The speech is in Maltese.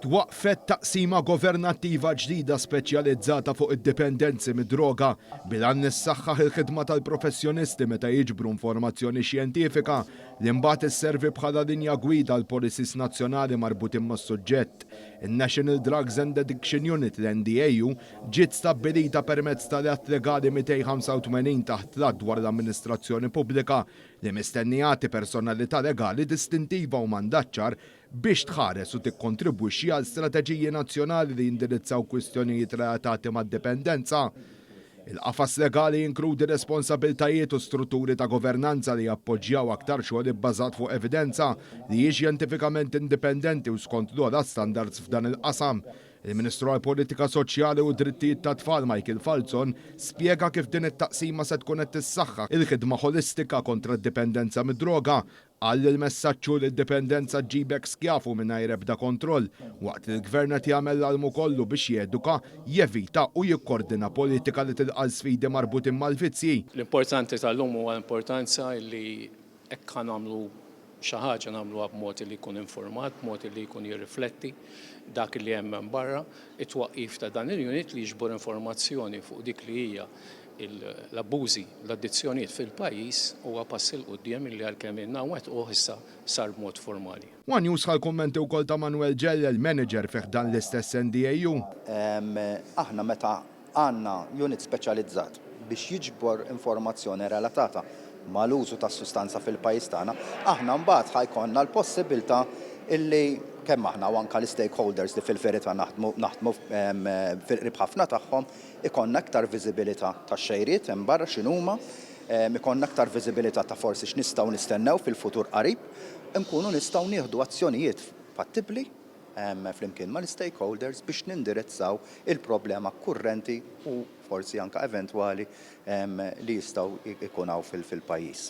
Twaqqfet taqsima governattiva ġdida speċjalizzata fuq id-dipendenzi mid-droga bil-għan li ssaħħaħ il-ħidma tal-professjonisti meta jiġbru informazzjoni xjentifika li mbagħad isservi bħala linja gwida għal policies nazzjonali marbutin mas-suġġett. In-National Drugs and Addiction Unit, l-NDAU, ġiet stabbilita permezz tal-Att Legali 285 taħt l-Att dwar l-Amministrazzjoni Pubblika li mistenni jagħti personalità legali distintiva u mandat ċar biex tħares u tikkontribwixxi għal strateġiji nazzjonali li jindirizzaw kwistjonijiet relatati mad-dipendenza. Il-qafas legali jinkludi responsabiltajiet u strutturi ta' governanza li jappoġġjaw aktar xogħol ibbażat fuq evidenza li hi xjentifikament indipendenti u skont l-ogħla standards f'dan il-qasam. Il-Ministru għall-Politika Soċjali u d-Drittijiet tat-Tfal Michael Falzon spjega kif din it-taqsima se tkun qed tissaħħaħ il-ħidma ħolistika kontra d-dipendenza mid-droga Qal li l-messaġġ hu li d-dipendenza ġġibek skjav u mingħajr ebda kontroll, waqt li l-Gvern qed jagħmel l-almu kollu biex jeduka, jevita u jikkordina politika li tilqa' l-sfidi marbutin mal-vizzji. L-importanti tal-lum huwa l-importanza li hekk ħa nagħmlu xi ħaġa nagħmluha b'mod li jkun infurmat, b'mod li jkun jirrifletti dak li hemm hemm barra. It-twaqqif ta' dan il-unit li jiġbor informazzjoni fuq dik li hija l-abbużi, l-addizzjonijiet fil-pajjiż huwa pass 'il quddiem li għalkemm ilna nwettquh issa sar b'mod formali. One News ħa l-kummenti wkoll ta' Manuel Ġellel, manager fi ħdan l-istess NDAU. Aħna meta għandna unit speċjalizzat biex jiġbor informazzjoni relatata mal-użu tas-sustanza fil-pajjiż tagħna, aħna mbagħad ħa jkollna l-possibbiltà li kemm aħna u anke l-istakeholders li fil-verità naħdmu naħdmu fil-qrib ħafna tagħhom, Ikollna iktar viżibilità tax-xejriet hemm barra x'inhuma, ikollna iktar viżibilità ta' forsi x'nistgħu nistennew fil-futur qarib, inkunu nistgħu nieħdu azzjonijiet fattibbli flimkien mal-istakeholders biex nindirizzaw il-problema kurrenti u forsi anke eventwali li jistgħu jkun hawn fil-pajjiż.